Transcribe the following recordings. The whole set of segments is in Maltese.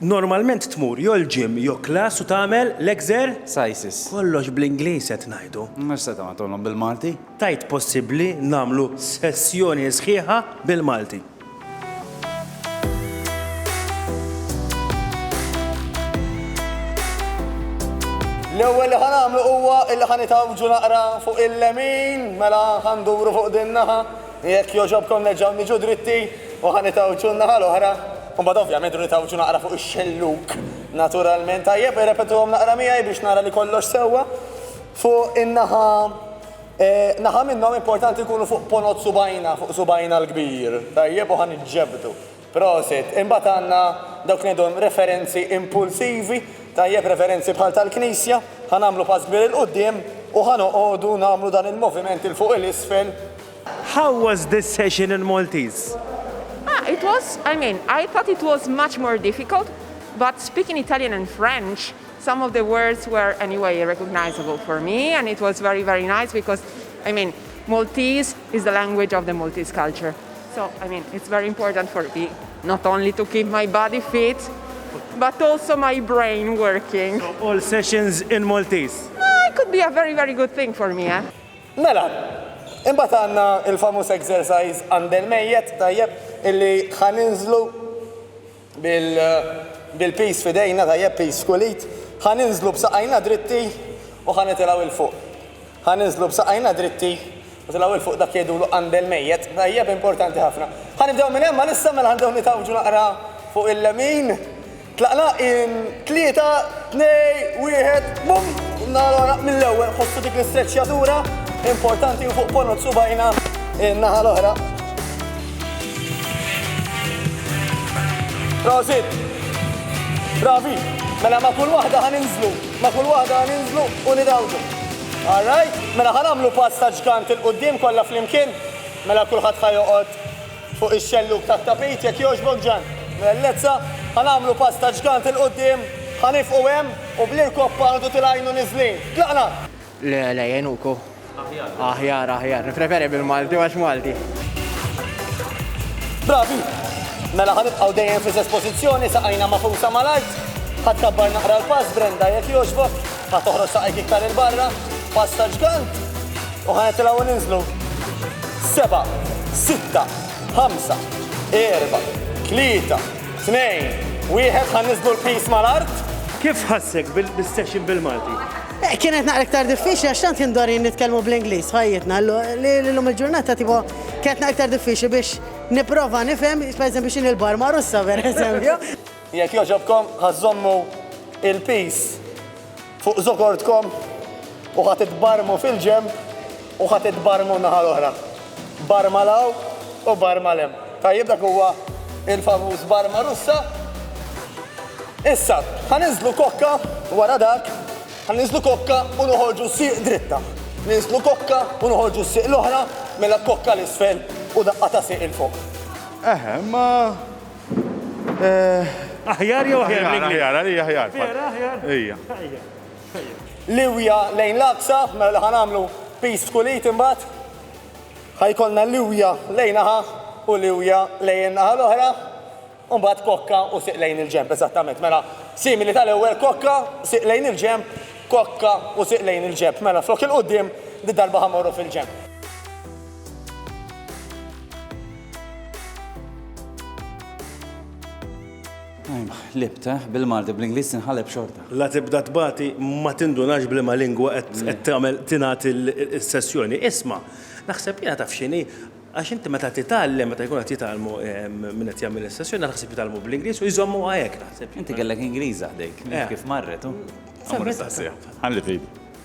Normalment tmur jo l-gym jo klass u tagħmel l-exer? Cises. Kollox bl-Ingliż qed ngħidu. Mhux se tagħmel tgħollhom bil-Malti? Tgħid possibbli nagħmlu sessjoni sħiħa bil-Malti? L-ewwel li ħa nagħmlu huwa li ħa nitgħawġu naqra fuq il-lemin, mela ħa nduru fuq din naħa, Jekk jogħġobkom nerġgħu niġu dritti u ħa nitgħawġu n-naħa l-oħra. U mbagħad ovvjament irridu nitgħawġu naqra fuq ix-xellug naturalment. Tajjeb, irrepetuhom naqra miegħi biex nara li kollox sewwa. Fuq in-naħa naħa minnhom importanti nkunu fuq ponot subgħajna, fuq subgħajna l-kbir. Tajjeb, u ħa niġġebdu. Prosit. Imbagħad għandna dawk li ngħidulhom referenzi impulsivi, tajjeb, referenzi bħal tal-Knisja, ħa nagħmlu pass kbir 'il quddiem u ħa noqogħdu nagħmlu dan il-moviment 'il fuq 'il isfel. How was this session in Maltese? Ah, it was, I mean, I thought it was much more difficult, but speaking Italian and French, some of the words were anyway recognisable for me and it was very very nice because, I mean, Maltese is the language of the Maltese culture. So, I mean, it's very important for me not only to keep my body fit, but also my brain working. So, all sessions in Maltese? Ah, it could be a very, very good thing for me, eh? Mela, imbagħad għandna il-famuż exercise għand il-mejjet, tajjeb, illi ħa ninżlu. Bil-piż f'idejna, tajjeb, piż f'kulit, ħa ninżlu b'saqajna dritti u ħa nitilgħu 'il fuq. Ħa ninżlu b'saqajna dritti u tilgħu 'il fuq, dak jgħidulu qandel mejjet, tajjeb, importanti ħafna. Ħa nibdew minn hemm għalissa, mela ħa nibdew nitgħawġu naqra fuq il-lemin. Tlaqna in tlieta, tnej, wieħed, bum! Allora, mill-ewwel, ħossu dik l-istreċċjatura, importanti, 'il fuq ponot subgħajna in-naħa l-oħra. Prosit! Bravi! Mela ma' kull waħda ħan inżlu, ma' kull waħda ħan inżlu u nidawdu. All right? Mela ħan għamlu pass ta' ġgant il-qudiem kollha flimkien. Mela kulħadd ħa joqgħod fuq ix-xellug tat-tapit jekk jogħġbok Ġan. Mela Lezza, ħa nagħmlu pass ta' ġgant il-qudiem, ħa nifqu hemm u bl-irkopp għadu tilgħinu niżlin. Tlaqna! Le, le, jgħinuk hu. Aħjar. Aħjar, aħjar. Nippreferi bil-Malti għax Malti. Bravi! Mela ħanibqgħu dejjem fl-istess pożizzjoni saqajna mafusa mal-art. Ħadd kabbar naqra l-pass Brenda jekk jogħġbok, ħadd toħroġ saqajk iktar il-barra, pass ta' ġgant u ħanet tilgħu ninżlu. Seba, sitta, ħamsa, erba, tlieta, tnejn, wieħed ħan niżlu l-pis mal-art. Kif ħassek bil-session bil-Malti? Kienet naqra iktar diffiċli għax tant kien dorin nitkellmu bl-Ingliż f'ħajjitna li llum il-ġurnata tipo kienet naqra iktar diffiċli biex nipprova nifhem pereżempju x'inhi l-barma Russa pereżempju. Jekk jogħġobkom ħa żommu il-piece fuq żokortkom u ħa titbarmu fil-ġenb. U ħa titbarrmu n-naħa l-oħra. Barrma 'l hawn u barrma 'l hemm. Tajjeb dak huwa il-famuż barrma Russa. Issa, ħa ninżlu kokka wara dak, ħa ninżlu kokka u noħorġu sieq dritta. Ninżlu kokka u noħorġu s-sieq l-oħra, mela kokka 'l isfel u daqqa ta' sieq 'il fuq. Eħe, imma eh. Aħjar jew aħjar l-Ingliż? Aħjar, aħjar, għalija aħjar. Vera aħjar? Ejja. Liwja lejn l-Aqsa, mela li ħa nagħmlu piece f'kull id imbagħad. Ħa jkollna liwja lejn naħa u liwja lejn in-naħa l-oħra, u mbagħad kokka u sieq lejn il-ġenb, eżattament. Mela, simili tal-ewwel kokka, sieq lejn il-ġenb, kokka u sieq lejn il-ġenb. Mela, flok il-quddiem, did-darba ħa mmorru fil-ġenb. Ħlibt, bil-Malti, bl-Ingliż tinħaleb xorta. La tibda tbati ma tindunax b'liema lingwa qed tagħmel tingħad is-sessjoni. Isma', naħseb jiena taf x'inhi, għax inti meta titgħallem, meta jkun qed jitgħallmu min qed jagħmel is-sessjoni, naħseb jitgħallmu bl-Ingliż u jżommuha hekk naħseb. Inti kellek Ingliża ħdejk, mhux kif marret, hu? Ħalli tgħid.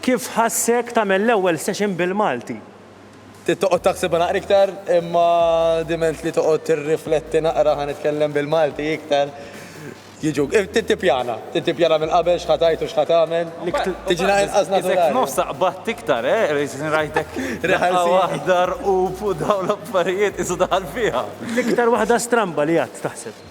Kif ħassek tagħmel l-ewwel session bil-Malti? Trid toqgħod taħsibha naqra iktar, imma diment li toqgħod tirrifletti naqra ħa nitkellem bil-Malti iktar, jiġu, trid tippjana, trid tippjana minn qabel x'ħa tgħid u x'ħa tagħmel, tiġi naqra inqas naturali. Isek f'nofsha qbadt iktar, eh, li rajtek daqqa waħda rqub u dawn l-affarijiet qisu daħal fiha. L-iktar waħda stramba li għadt taħseb?